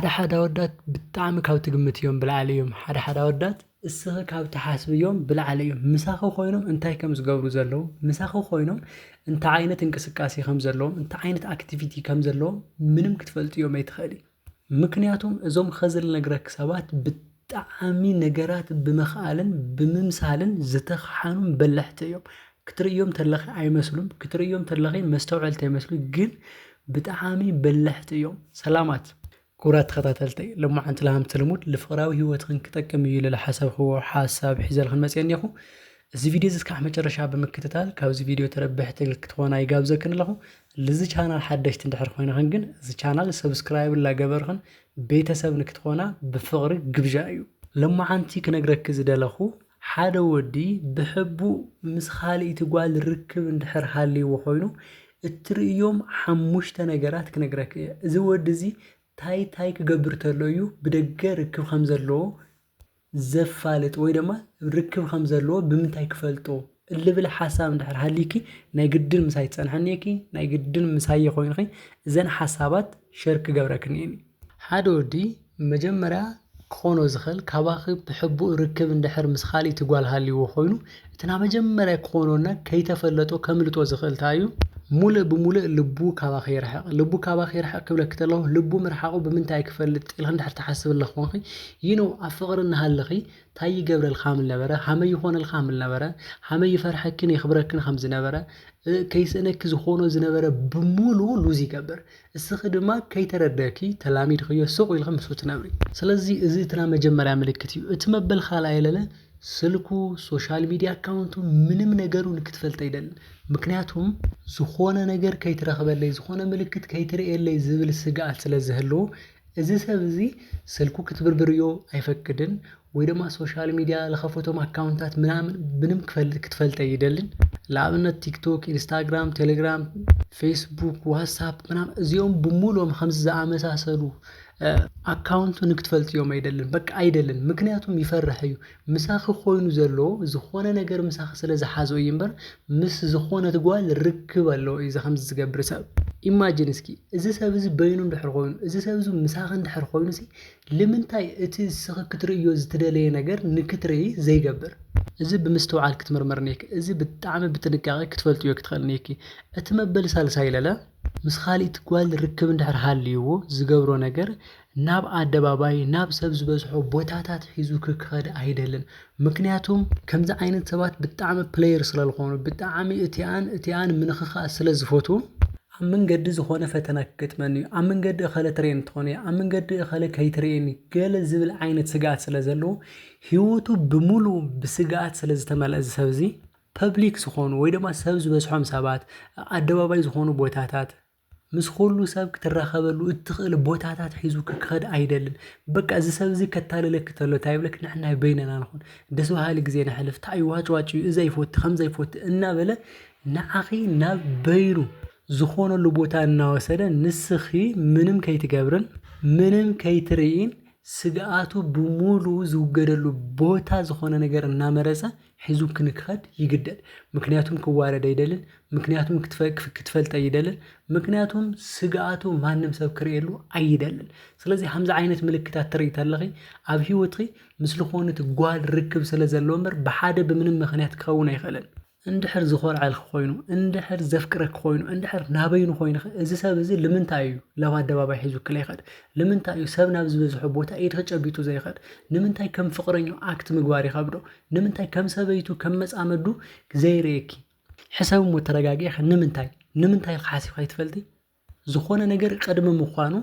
ሓደ ሓደ ኣወዳት ብጣዕሚ ካብ ትግምትዮም ብላዕሊ እዮም ሓደ ሓደ ኣወዳት እስኺ ካብ ትሓስብዮም ብላዕሊ እዮም ምሳኺ ኮይኖም እንታይ ከም ዝገብሩ ዘለዉ ምሳኺ ኮይኖም እንታይ ዓይነት እንቅስቃሴ ከም ዘለዎም እንታይ ዓይነት ኣክቲቪቲ ከም ዘለዎም ምንም ክትፈልጥዮም ኣይትኽእልይ። ምክንያቱም እዞም ኸዚ ልነግረኪ ሰባት ጠዓሚ ነገራት ብምክኣልን ብምምሳልን ዝተከሓኑን በለሕቲ እዮም ክትርእዮም ተለኺ ኣይመስሉም ክትርእዮም ተለኺ መስተውዐልቲ ኣይመስሉ ግን ብጠዓሚ በለሕቲ እዮም ሰላማት ኩብራት ተኸታተልተይ ለማዓንቲ ለሃምቲ ልሙድ ልፍቕራዊ ሂወትኽን ክጠቅም እዩ ኢለ ልሓሰብክዎ ሓሳብ ሒዘልኽን መጽየ እኔኹ እዚ ቪድዮ እዚ እስካዕ መጨረሻ ብምክትታል ካብዚ ቪድዮ ተረበሕቲ ክትኾና ይጋብዘክን ኣለኹ ልዚ ቻናል ሓደሽቲ እንድሕር ኮይንኽን ግን እዚ ቻናል ሰብስክራይብ ላገበርኽን ቤተሰብ ንክትኾና ብፍቕሪ ግብዣ እዩ። ሎማዓንቲ ክነግረኪ ዝደለኹ ሓደ ወዲ ብሕቡእ ምስ ኻልኢቲ ጓል ርክብ እንድሕር ሃልይዎ ኾይኑ እትርእዮም ሓሙሽተ ነገራት ክነግረኪ እየ እዚ ወዲ እዚ ታይ ታይ ክገብር ተሎ እዩ ብደገ ርክብ ኸምዘለዎ ዘፋልጥ ወይ ደማ ርክብ ከም ዘለዎ ብምንታይ ክፈልጦ እልብል ሓሳብ እንድሕር ሃሊኪ ናይ ግድን ምሳይ ትጸንሕኒ ኢኪ ናይ ግድን ምሳየ ኮይንኺ እዘን ሓሳባት ሸር ክገብረክን እየ። ሓደ ወዲ መጀመርያ ክኾኖ ዝኽእል ካባኺ ብሕቡእ ርክብ እንድሕር ምስ ካልእቲ ጓል ሃልይዎ ኮይኑ፣ እቲ ናይ መጀመርያ ክኾኖና ከይተፈለጦ ከምልጦ ዝኽእል ታይ እዩ? ሙልእ ብሙልእ ልቡ ካባኺ ይርሓቕ። ልቡ ካባኺ ይርሓቕ ክብለኪ ተለኹ ልቡ ምርሓቑ ብምንታይ እየ ክፈልጥ ኢልኺ እንድሕር ትሓስቢ ኣለኽኮንኺ ይኖ ኣብ ፍቕሪ እናሃለኺ ታይ ይገብረልኪ ሃምልነበረ ሃመይ ይኾነልኪ ሃምልነበረ ሃመይ ይፈርሐኪን የኽብረክን ከምዝነበረ ከይስእነኪ ዝኾኖ ዝነበረ ብሙሉ ሉዝ ይገብር እስኺ ድማ ከይተረደእኪ ተላሚድኽዮ ሱቕ ኢልኺ ምስኡ ትነብሪ። ስለዚ እዚ እቲ ናይ መጀመርያ ምልክት እዩ። እቲ መበል ካልኣይ ለለ ስልኩ፣ ሶሻል ሚድያ ኣካውንቱ፣ ምንም ነገሩ ንክትፈልጥ ኣይደልን። ምክንያቱም። ዝኾነ ነገር ከይትረኽበለይ፣ ዝኾነ ምልክት ከይትርእየለይ ዝብል ስግኣት ስለዝህልዎ እዚ ሰብ እዚ ስልኩ ክትብርብርዮ ኣይፈቅድን ወይ ደማ ሶሻል ሚድያ ልኸፈቶም ኣካውንታት ምናምን ምንም ክትፈልጥ ኣይደልን ልኣብነት ቲክቶክ ኢንስታግራም ቴሌግራም ፌስቡክ ዋትሳፕ ምናምን እዚኦም ብሙሉኦም ኸምዚ ዝኣመሳሰሉ ኣካውንቱ ንክትፈልጥዮም ኣይደልን በቃ ኣይደልን ምክንያቱም ይፈርሕ እዩ ምሳኺ ኮይኑ ዘሎ ዝኾነ ነገር ምሳኺ ስለ ዝሓዞ እዩ እምበር ምስ ዝኾነት ጓል ርክብ ኣለዎ እዩ እዚ ከምዚ ዝገብር ሰብ ኢማጂን እስኪ እዚ ሰብ እዚ በይኑ እንድሕር ኮይኑ እዚ ሰብ እዚ ምሳኺ እንድሕር ኮይኑሲ ልምንታይ እቲ እስኺ ክትርእዮ ዝትደለየ ነገር ንክትርኢ ዘይገብር እዚ ብምስትውዓል ክትምርምር ኔክ እዚ ብጣዕሚ ብጥንቃቄ ክትፈልጥዮ ክትኽእል ኔኪ እቲ መበል ሳልሳይ ለለ ምስ ኻልኢት ጓል ርክብ እንድሕር ሃልይዎ ዝገብሮ ነገር ናብ ኣደባባይ ናብ ሰብ ዝበዝሖ ቦታታት ሒዙ ክከድ ኣይደልን ምክንያቱም ከምዚ ዓይነት ሰባት ብጣዕሚ ፕለየር ስለልኮኑ ብጣዕሚ እቲኣን እቲኣን ምንክካእ ስለዝፈትዉ ኣብ መንገዲ ዝኮነ ፈተና ክገጥመኒ እዩ ኣብ መንገዲ እከለ ትሬን ትኮን እያ ኣብ መንገዲ እከለ ከይትርኤኒ ገለ ዝብል ዓይነት ስግኣት ስለዘለዎ ሂወቱ ብምልኡ ብስግኣት ስለዝተመልኣ እዚ ሰብ እዚ ፐብሊክ ዝኮኑ ወይ ድማ ሰብ ዝበዝሖም ሰባት ኣደባባይ ዝኮኑ ቦታታት ምስ ኹሉ ሰብ ክትራኸበሉ እትኽእል ቦታታት ሒዙ ክኸድ ኣይደልን በቃ እዚ ሰብ እዚ ከታልለኪ ተሎ ታይ ይብለኪ ንሕና በይነና ንኹን ደስ በሃሊ ግዜ ነሕልፍ ታይ እዩ ዋጭ ዋጭ እዩ እዚ ኣይፈቱ ከምዚ ኣይፈቱ እናበለ ንዓኺ ናብ በይኑ ዝኾነሉ ቦታ እናወሰደ ንስኺ ምንም ከይትገብርን ምንም ከይትርእይን ስግኣቱ ብሙሉኡ ዝውገደሉ ቦታ ዝኾነ ነገር እናመረጸ ሒዙክኒ ክኸድ ይግደድ ምክንያቱም ክዋረድ ኣይደልን ምክንያቱም ክትፈልጥ ኣይደልን ምክንያቱም ስግኣቱ ማንም ሰብ ክርእየሉ ኣይደልን ስለዚ ከምዚ ዓይነት ምልክታት ትርኢ ተለኺ ኣብ ሂወትኺ ምስ ዝኾነት ጓል ርክብ ስለ ዘለዎ እምበር ብሓደ ብምንም ምክንያት ክኸውን ኣይኽእልን እንድሕር ዝኾርዐልኪ ኮይኑ እንድሕር ዘፍቅረኪ ኮይኑ እንድሕር ናበይኑ ኮይንኺ እዚ ሰብ እዚ ልምንታይ እዩ ናብ ኣደባባይ ሒዙኪ ዘይኸድ ልምንታይ እዩ ሰብ ናብ ዝበዝሖ ቦታ ኢድኺ ጨቢጡ ዘይኸድ ንምንታይ ከም ፍቕረኛኡ ኣክት ምግባር ይኸብዶ ንምንታይ ከም ሰበይቱ ከም መጻመዱ ዘይርእየኪ? ሕሰቢ እሞ ተረጋጊእኺ ንምንታይ? ንምንታይ ኢልኺ ሓሲብኪ ኣይትፈልጢ? ዝኾነ ነገር ቅድሚ ምዃኑ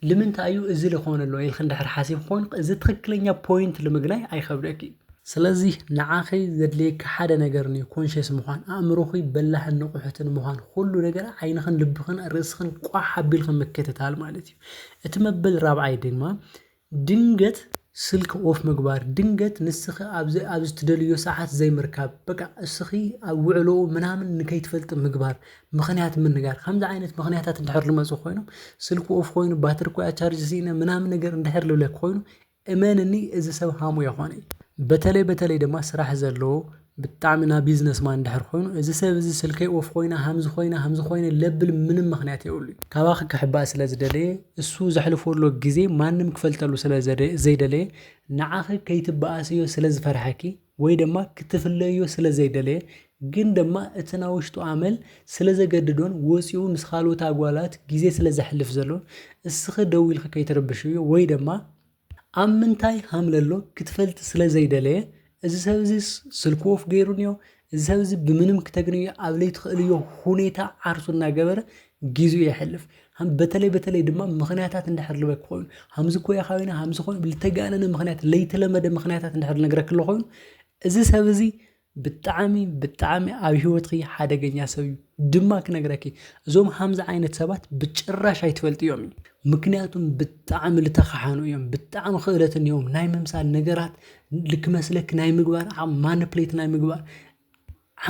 ልምንታይ እዩ እዚ ልኾን ኣሎ ኢልኺ እንድሕር ሓሲብኪ ኮንክ እዚ ትኽክለኛ ፖይንት ልምግናይ ኣይኸብደኪ እዩ። ስለዚ ንዓኺ ዘድልየኪ ሓደ ነገር እንዮ ኮንሸስ ምዃን፣ ኣእምሮኺ በላሕን ንቑሕትን ምዃን፣ ኹሉ ነገር ዓይንኽን ልብኽን ርእስኽን ቋሕ ኣቢልኪ ምክትታል ማለት እዩ። እቲ መበል ራብዓይ ድማ ድንገት ስልኪ ኦፍ ምግባር ድንገት ንስኺ ኣብዚ ኣብዚ ትደልይዮ ሰዓት ዘይምርካብ በቃ እስኺ ኣብ ውዕሎኡ ምናምን ንከይትፈልጢ ምግባር ምኽንያት ምንጋር ከምዚ ዓይነት ምኽንያታት እንድሕር ልመጹ ኮይኖም ስልኪ ኦፍ ኮይኑ ባትሪ ኮያ ቻርጅ ስኢነ ምናምን ነገር እንድሕር ልብለኪ ኮይኑ እመንኒ እዚ ሰብ ሃሙ የኾነ እዩ። በተለይ በተለይ ድማ ስራሕ ዘለዎ ብጣዕሚ ናይ ቢዝነስ ማን እንድሕር ኮይኑ እዚ ሰብ እዚ ስልከይ ኦፍ ኮይና ሃምዚ ኮይና ሃምዚ ኮይነ ለብል ምንም ምክንያት የብሉይ። ካባኺ ክሕባእ ስለ ዝደለየ እሱ ዘሕልፎ ዘሎ ግዜ ማንም ክፈልጠሉ ስለ ዘይደለየ ንዓኺ ከይትበኣስዮ ስለ ዝፈርሐኪ ወይ ደማ ክትፍለይዮ ስለ ዘይደለየ ግን ደማ እቲ ናይ ውሽጡ ኣመል ስለ ዘገድዶን ወጽዩ ምስ ካልኦት ኣጓላት ግዜ ስለ ዘሕልፍ ዘሎን እስኺ ደው ኢልኺ ከይትርብሽዮ ወይ ደማ ኣብ ምንታይ ሃምለሎ ክትፈልቲ ስለ ዘይደለየ እዚ ሰብ እዚስ ስልኩ ኦፍ ገይሩንዮ፣ እዚ ሰብ እዚ ብምንም ክተግንዮ ኣብ ለይትኽእልዮ ሁኔታ ዓርሱ እናገበረ ጊዚኡ የሕልፍ። ሃም በተለይ በተለይ ድማ ምኽንያታት እንድሕር ልበክ ኮይኑ ሃምዚ እኮ ኢኻ ኮይና ሃምዚ ኮይኑ ልተጋነነ ምኽንያት ለይተለመደ ምኽንያታት እንድሕር ልነግረክ ኣሎ ኮይኑ እዚ ሰብ እዚ ብጣዓሚ ብጣዓሚ ኣብ ሂወትኪ ሓደገኛ ሰብ እዩ ድማ ክነግረኪ እዞም ሃምዚ ዓይነት ሰባት ብጭራሽ ኣይትፈልጥዮሚ ምክንያቱም ብጣዓሚ ልተካሓኑ እዮም ብጣዓሚ ክእለት እንህዎም ናይ ምምሳል ነገራት ልክመስለኪ ናይ ምግባር ዓቅሚ ማነፕሌት ናይ ምግባር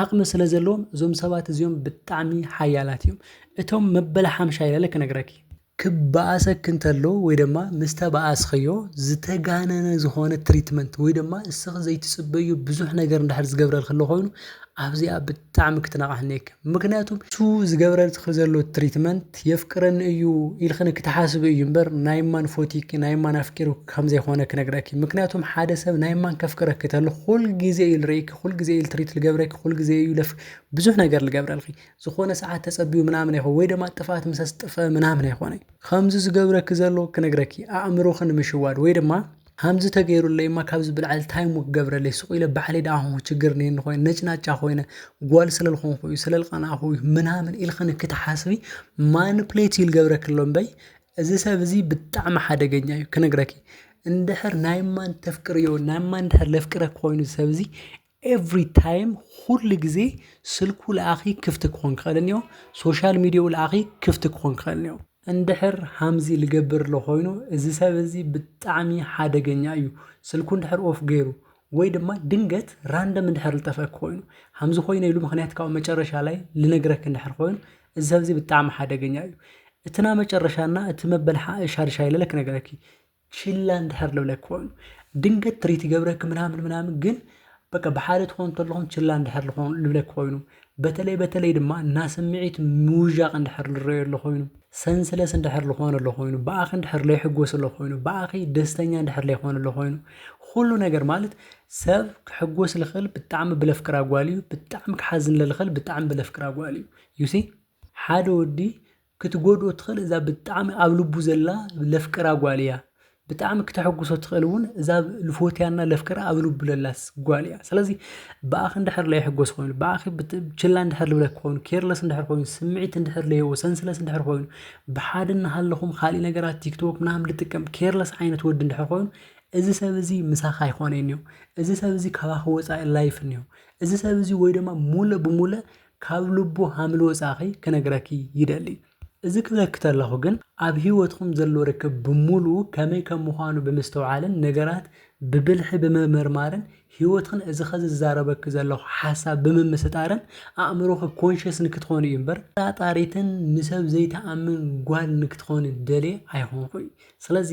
ዓቅሚ ስለ ዘለዎም እዞም ሰባት እዚኦም ብጣዓሚ ሓያላት እዮም እቶም መበል ሓምሻይ ለለ ክነግረኪ ክበኣሰኪ እንተሎ ወይ ደማ ምስ ተበኣስኽዮ ዝተጋነነ ዝኾነ ትሪትመንት ወይ ደማ ንስኺ ዘይትጽበይዮ ብዙሕ ነገር እንድሕር ዝገብረልኪ ኣሎ ኮይኑ ኣብዚኣ ብጣዕሚ ክትነቕሒ እኒኤኪ ምኽንያቱ እቱ ዝገብረልኪ ዘሎ ትሪትመንት የፍቅረኒ እዩ ኢልኺ ንክትሓስቢ እዩ እምበር ናይ ማን ፎቲኪ ናይ ማን ኣፍቂሩኪ ከም ዘይኾነ ክነግረኪ ምኽንያቱም ሓደ ሰብ ናይ ማን ከፍቅረኪ ተሎ ኹል ግዜ እዩ ልርእኪ ኹል ግዜ እዩ ትሪት ልገብረኪ ኹል ግዜ እዩ ለፍ ብዙሕ ነገር ልገብረልኺ ዝኾነ ሰዓት ተጸብዩ ምናምን ኣይኮ ወይ ደማ ጥፍኣት ምስ ኣስጥፈ ምናምን ኣይኮነይ ኸምዚ ዝገብረኪ ዘሎ ክነግረኪ ኣእምሮኺ ንምሽዋድ ወይ ድማ ሃምዚ ተገይሩለይ እማ ካብዚ ብላዕሊ ታይ እሞ ክገብረለይ ሱቕ ኢለ ባዕለይ ደኣ ኾንኩ ችግር እኒኤኒ ኾይነ ነጭናጫ ኾይነ ጓል ስለልኾንኹ እዩ ስለልቐናእኹ እዩ ምናምን ኢልኽኒ ክትሓስቢ ማንፕሌት እዩ ልገብረኪ ኣሎ እምበይ እዚ ሰብ እዚ ብጣዕሚ ሓደገኛ እዩ ክነግረኪ እንድሕር ናይ ማን ተፍቅርዮ ናይ ማን እንድሕር ለፍቅረኪ ኾይኑ እዚ ሰብ እዚ ኤቭሪ ታይም ኹሉ ግዜ ስልኩ ለኣኺ ክፍቲ ክኾን ክኽእል እኒኦ ሶሻል ሚዲያኡ ለኣኺ ክፍቲ ክኾን ክኽእል እኒኦ። እንድሕር ሃምዚ ልገብር ለኾይኑ እዚ ሰብ እዚ ብጣዕሚ ሓደገኛ እዩ ስልኩ እንድሕር ኦፍ ገይሩ ወይ ድማ ድንገት ራንደም እንድሕር ልጠፍእክ ኾይኑ ሃምዚ ኾይነ ኢሉ ምኽንያት ካብኡ መጨረሻ ላይ ልነግረክ እንድሕር ኾይኑ እዚ ሰብ እዚ ብጣዕሚ ሓደገኛ እዩ። እቲ ናመጨረሻ እና እቲ መበል ሓ ሻድሻይ ለለ ክነግረኪ ችላ እንድሕር ልብለኪ ኮይኑ ድንገት ትሪት ይገብረኪ ምናምን ምናምን ግን በቃ ብሓደ ትኾኑ ተለኹም ችላ እንድሕር ልኾኑ ልብለኪ ኮይኑ በተለይ በተለይ ድማ ናስምዒት ምውዣቕ እንድሕር ልረኦዮ ለኾይኑ ሰንስለስ እንድሕር ልኾኑ ለኾይኑ ብኣኺ እንድሕር ለይሕጎሱ ለኾይኑ ብኣኺ ደስተኛ እንድሕር ለይኾኑ ለኾይኑ ኹሉ ነገር ማለት ሰብ ክሕጎስ ልኽእል ብጣዕሚ ብለፍቅራ ጓል እዩ ብጣዕሚ ክሓዝን ለልኽእል ብጣዕሚ ብለፍቅራ ጓል እዩ ዩ ሲ ሓደ ወዲ ክትጎድኦ ትኽእል እዛ ብጣዕሚ ኣብ ልቡ ዘላ ለፍቅራ ጓል እያ ብጣዕሚ ክተሐጉሶ ትኽእል እውን እዛ ልፎትያና ለፍቅራ ኣብ ልቡ ለላስ ጓል እያ ስለዚ ብኣኺ እንድሕር ለይሕጎስ ኮይኑ ብኣኺ ችላ እንድሕር ልብለክ ኮይኑ ኬርለስ እንድሕር ኮይኑ ስምዒት እንድሕር ለየዎ ሰንስለስ እንድሕር ኮይኑ ብሓደ እናሃለኹም ኻሊእ ነገራት ቲክቶክ ምናምን ልጥቀም ኬርለስ ዓይነት ወዲ እንድሕር ኮይኑ እዚ ሰብ እዚ ምሳኻ ኣይኾነይን እዩ እዚ ሰብ እዚ ካባኺ ወፃኢ ላይፍ እንየው እዚ ሰብ እዚ ወይ ድማ ሙለ ብሙለ ካብ ልቡ ሃምልወጻኺ ክነግረኪ ይደሊ እዚ ክብለኪ ተለኹ ግን ኣብ ሂወትኹም ዘሎ ርክብ ብሙሉኡ ከመይ ከም ምዃኑ ብምስትውዓልን ነገራት ብብልሒ ብምምርማርን ሂወትኽን እዚ ኸዚ ዝዛረበኪ ዘለኹ ሓሳብ ብምምስጣርን ኣእምሮኺ ኮንሸስ ንክትኾኒ እዩ እምበር ተጠራጣሪትን ንሰብ ዘይትኣምን ጓል ንክትኾኒ ደልየ ኣይኾንኩይ ስለዚ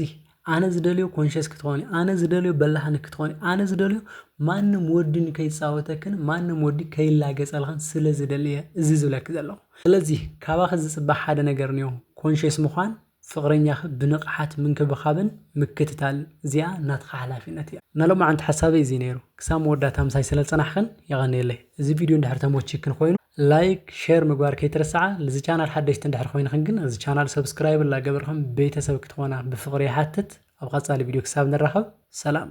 ኣነ ዝደልዮ ኮንሸስ ክትኾኒ ኣነ ዝደልዮ በላሓኒ ክትኾኒ ኣነ ዝደልዮ ማንም ወዲ ን ከይጻወተክን ማንም ወዲ ከይላገጸልኽን ስለ ዝደሊ እየ እዚ ዝብለኪ ዘለኹ ስለዚ ካባኺ ዝጽበ ሓደ ነገር እንዮ ኮንሸስ ምዃን ፍቅረኛኺ ብንቕሓት ምንክብኻብን ምክትታልን እዚኣ ናትኺ ሓላፊነት እያ። ናይ ሎማዓንቲ ሓሳበይ እዚ ነይሩ ክሳብ መወዳእታ ምሳይ ስለዝጸናሕክን የቐንየለይ እዚ ቪድዮ እንድሕር ተሞቺክን ኮይኑ ላይክ ሸር ምግባር ከይትርስዓ ልዚ ቻናል ሓደሽቲ እንድሕር ኮይንክን ግን እዚ ቻናል ሰብስክራይብ እላገበርክን ቤተሰብ ክትኾና ብፍቅሪ ይሓትት ኣብ ቐፃሊ ቪድዮ ክሳብ ንራኸብ ሰላም።